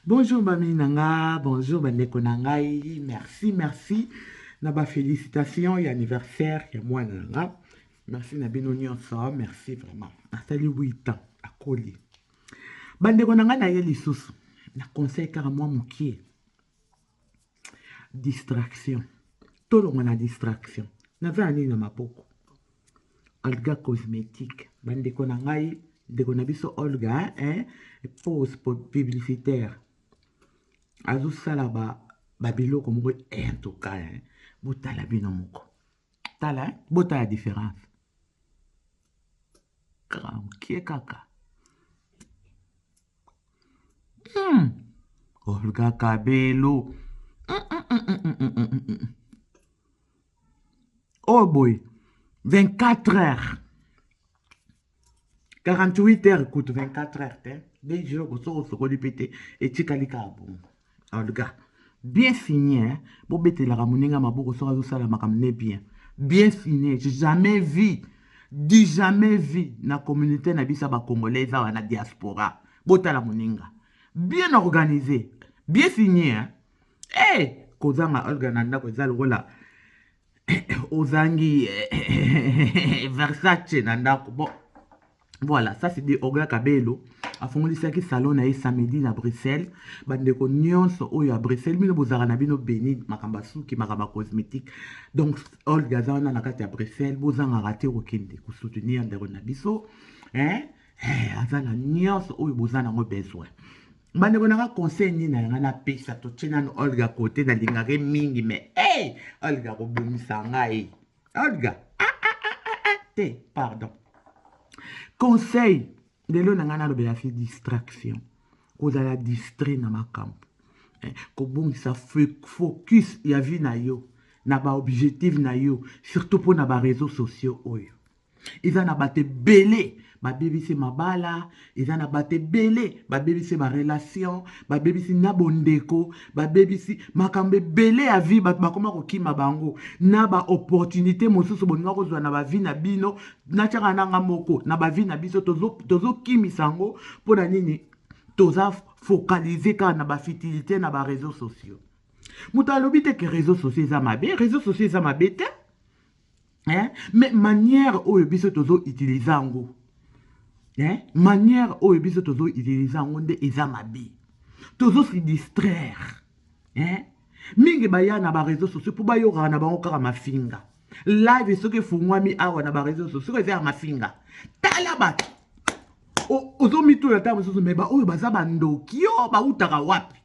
Bonjour mamie na nga, bonjour ba ndeko na ngai, merci merci na ba felicitations ya anniversaire ya mwana na nga. Merci na bino nyonso, merci vraiment. Asali 8 ans, akoli. Ba ndeko na nga na ye lisusu, na conseil kaka mwa mokie. distraction tolongwa na distraction naza na nini na maboko alga cosmétique bandeko na ngai ndeko na biso olga eh, pose publicitaire azosala babiloko ba moko eh, en tout cas eh, botala bino moko tala eh? botala différence kaka mokie kaka hmm. olga kabelo oyo boye 24 heures 48 heures kutu 24 heures te de jour okosoki osokoli mpe te etikali kaka bongo olga bien fini hein? bobetelaka moninga maboko soki azosala makambo ne bien bien fini jamais vie du jamais vie na communauté na biso ya bacongolais eza wana diaspora botala moninga bien organisé bien fini hein? hey! Eh, kozanga olga na ndako eza lokola ozangi versace na ndako bon voilà ça c'est de oga kabelo afongolisaki salon na ye samedi na bruxelles bandeko nyonso oyo ya bruxelles bino bozalaka na bino beni makambo ya suki makambo ya cosmétique donc olga aza wana na kati ya bruxelles bozangaka te kokende kosoutenir ndeko na biso eh, eh, aza na nyonso oyo boza nango besoin bandeko nanga conseil nini na yanga napesa totie nano olga kote nalingaka ye mingi me hey, olga kobomisa ngai olga ah, ah, ah, ah, ah, te pardon conseil lelo na ngai nalobela fi distraction kozala distrait na makambo eh, kobongisa focus ya vie na yo na baobjectif na yo surtout mpo na bareseau sociaux oyo eza na bato ebele babebisi mabala eza na bato ebele babebisi barelation babebisi na bondeko babebisi makambo ebele ya vie bato bakoma kokima bango na baopportunité mosusu bolinga kozwa na bavi na bino natyaka nanga moko na bavi na biso tozokimisa tozo yango mpo na nini toza focalise kaka na bafitilité na bareseau sociaux moto alobi te ke reseau sociaux eza mabe reseau sociaux eza mabe te eh? mais manière oyo biso tozo utilize yango eh? manière oyo biso tozo utilize yango nde eza mabe tozo se distraire eh? mingi baya na bareseau sociaux mpo bayokaka na bango kaka mafinga live soki efungwami awa na bareseau sociaux soki eza ya mafinga tala bato ozomituna ntango mosusu me baoyo baza bandoki yo bautaka wapi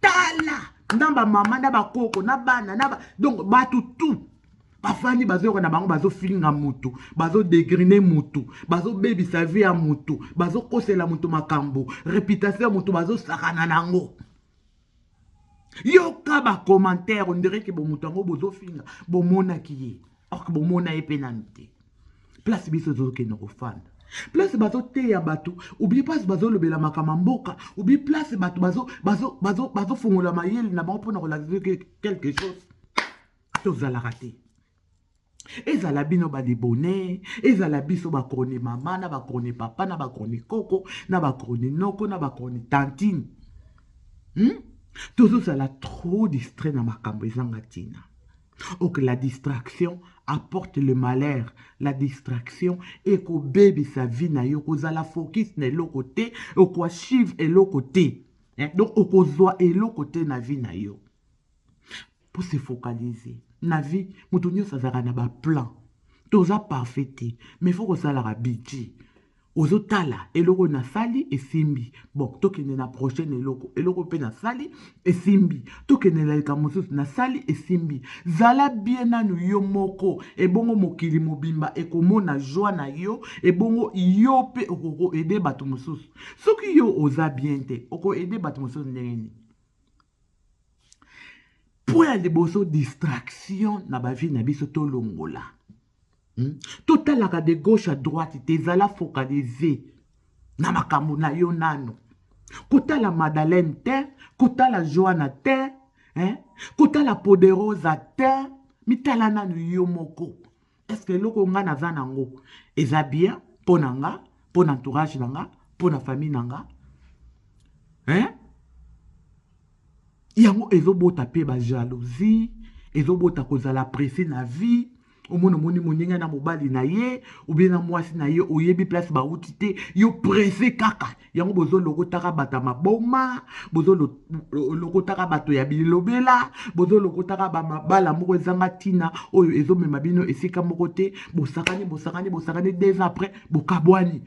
tala na bamama na bakoko na bana na donc bato tout bafandi bazoyoka na bango bazofinga motu bazodegrine motu bazobebisa vi ya motu bazokosela motu makambo reputation ya motu bazosakana na yango yoka ba commentaire ondire ke bomoto yango bozofinga bomonaki ye or bomona ye mpe nanu te place biso tozokende kofanda place bazoteya bato obi place bazolobela makama mboka obi place bato bazofongola mayele na bango mpona kolakisa quelque chose tozalaka te ezala bino ba libone ezala biso ba chroni mama na ba chroni papa na ba chroni koko na ba chroni noko na ba chroni tantine hmm? tozozala trop distrait na makambo ezanga ntina ok la distraction apporte le malheur la distraction ekobebisa vie na yo kozala focus na eloko te okoachive eloko te eh? donc okozwa eloko te na vie na yo pour se focaliser na vie moto nyonso azalaka na baplan toza parfait te mais fo kosalaka budget ozotala eloko oyo nasali esimbi bon tokende na prochaine eloko eloko mpe nasali esimbi tokende na likambo mosusu nasali esimbi zala bie nanu yo moko ebongo mokili mobimba ekomona joi na yo ebongo yo mpe okokoede bato mosusu soki yo oza bien te okoede bato mosusu ndenge nini mpo ya liboso distraction na bavie na biso tolongola hmm? totalaka de gauche à droite te ezala focalise na makambo na yo nano kotala madalene te kotala joana te eh? kotala poderosa te mitala nano yo moko Est-ce que eloko nga naza nango eza bien mpo na nga, mpo na entourage na nga, mpo na famille na nga? Hein? Yango ezobota mpe ba jalousie, ezobota kozala presse na vie. omona omoni moninga na mobali na ye obie na mwasi na ye oyebi place bauti te yo presse kaka yango bozolokotaka bato ya maboma bozolokotaka bato ya bilobela bozolokotaka bamabala moko ezanga ntina oyo ezomema bino esika moko te bosakani bosakani bosakani deux ans après bokabwani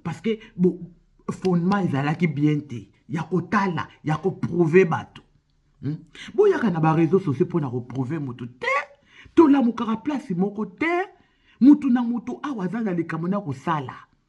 parce que bo, fondement ezalaki bien te ya kotala ya koprouve bato hmm? boyaka na bareseau sociaux mpo na koprouve motu te tolamukaka place moko te motu na motu awa aza na likambo na kosala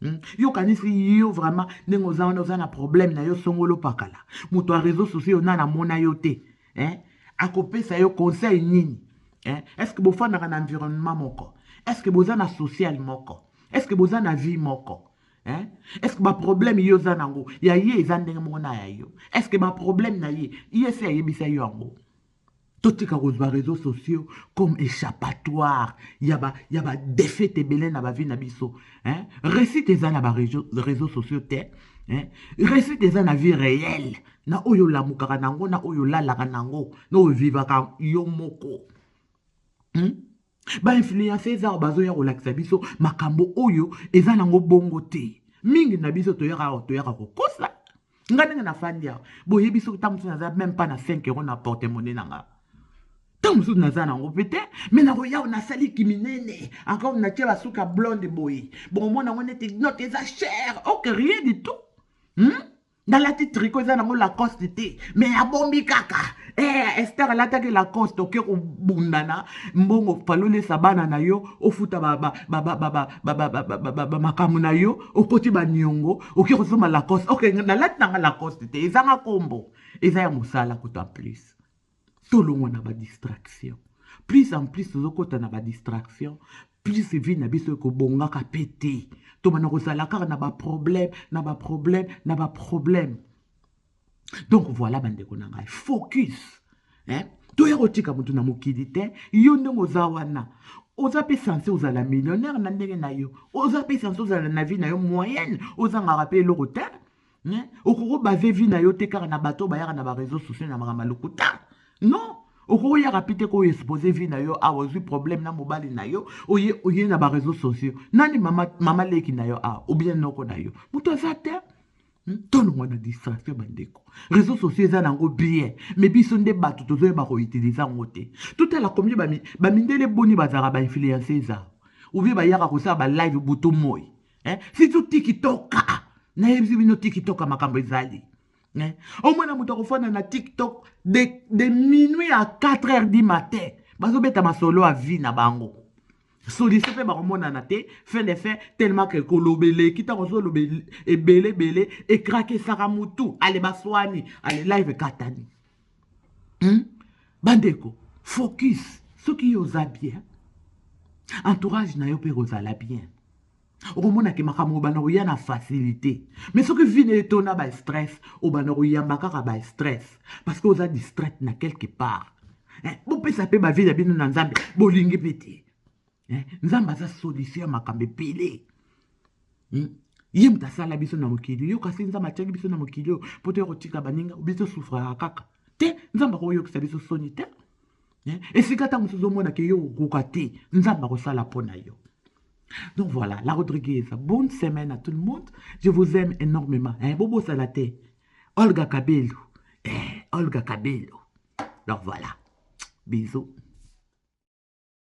Hmm? yo okanisi yo vraiment ndenge oza wana oza na problème na yo songolo pakala moto ya réseau sociaux yo nana amona yo te eh? akopesa yo conseil nini eh? est ce que bofandaka na environnement moko est ce que boza na social moko est ce que boza na vie moko eh? est ce que baproblème ye oza na yango ya ye eza ndenge moko na ya yo est ce que baproblème na ye ye se ayebisa yo yango totika kozwa réseaux sociaux comme échappatoire ya ba, ya ba défaite ebele na bavi na biso hein? réussite eza na ba réseaux sociaux te hein? réussite eza na vie réelle na oyo olamukaka nango na oyo olalaka nango na oyo vivaka yo moko hmm? Ba influenceurs awa bazoya kolakisa biso makambo oyo eza nango bongo te. Mingi na biso toyaka awa toyaka kokosa. Nga ndenge nafandi awa boyebi soki ntango mosusu naza meme pas na 5 euro na porte monnaie na nga ntango mosusu naza nango mpe te me nakoya awa nasali kiminene encore natie basuka blonde boye bokomona yango neti note eza cher ok rien du tout hmm? nalati triko eza nango lacoste te me abombi kaka eh, ester alataki lacoste oke kobundana mbongo falolesa bana na yo ofuta makambo na yo okoti baniongo oke kosomba lacoste ok nalati nanga lacoste te ezanga kombo eza ya mosala kuta plus tolongwa na badistraction plus en plus tozokɔta na badistraction plus vie na biso ekobongaka mpe te tobanda kozala kaka na baproblème na baproblème na baproblème donc voilà bandeko na ngai focus eh? toya kotika motu na mokili te yo ndenge oza wana oza mpe sense ozala millionnaire na ndenge na yo oza mpe sense ozala na vie na yo moyenne ozangaka mpe eloko te Hein? Okoko base vie na yo te kaka na bato bayaka na ba réseaux sociaux na makambo lokuta. Non. Okoko yaka pe te ko exposer vie na yo awa ozui problème na mobali na yo oye oye na ba réseaux sociaux. Nani mama mama leki na yo awa ou bien noko na yo. Moto aza te. Hmm? tolongwa na distraction bandeko réseau sociaux eza nango bien mais biso nde bato tozoyeba koutilize yango te totala komie bamindele boni bazalaka bainfluence eza oubie bayaka kosala balive butu moi eh? surtout tikitoka nayebisi bino tikitoka makambo ezali eh? omona moto akofanda na tiktok de, de minuit à 4 heures du matin bazobeta masolo ya vie na bango solution mpe bakomonana te fin de fin tellement ke koloba eleki ntango ozoloba ebele ebele ekrakisaka motu ale baswani ale live ekatani hmm? bandeko focus soki yo oza bien entourage na yo mpe ekozala bien okomona ke makambo obanda koya na facilité mais soki vi na etona ba stress obanda koyamba kaka ba stress parce que oza distraite na quelque part eh, bopesa mpe bavi na bino na nzambe bolingi mpe te eh, nzambe aza solution ya makambo ebele hmm? ye moto asala biso na mokili yo kasi nzambe atiaki biso na mokili oyo mpo toya kotika baninga biso sufraka kaka te nzambe akoyokisa biso soni te eh, esika ntango mosusu ozomona ke yo okokoka te nzambe akosala mpo na yo donc voilà la rodriguez bonne semaine à tout le monde je vous aime énormément eh, bobosala te olga kabelu eh, olga kabelu donc voilà bisous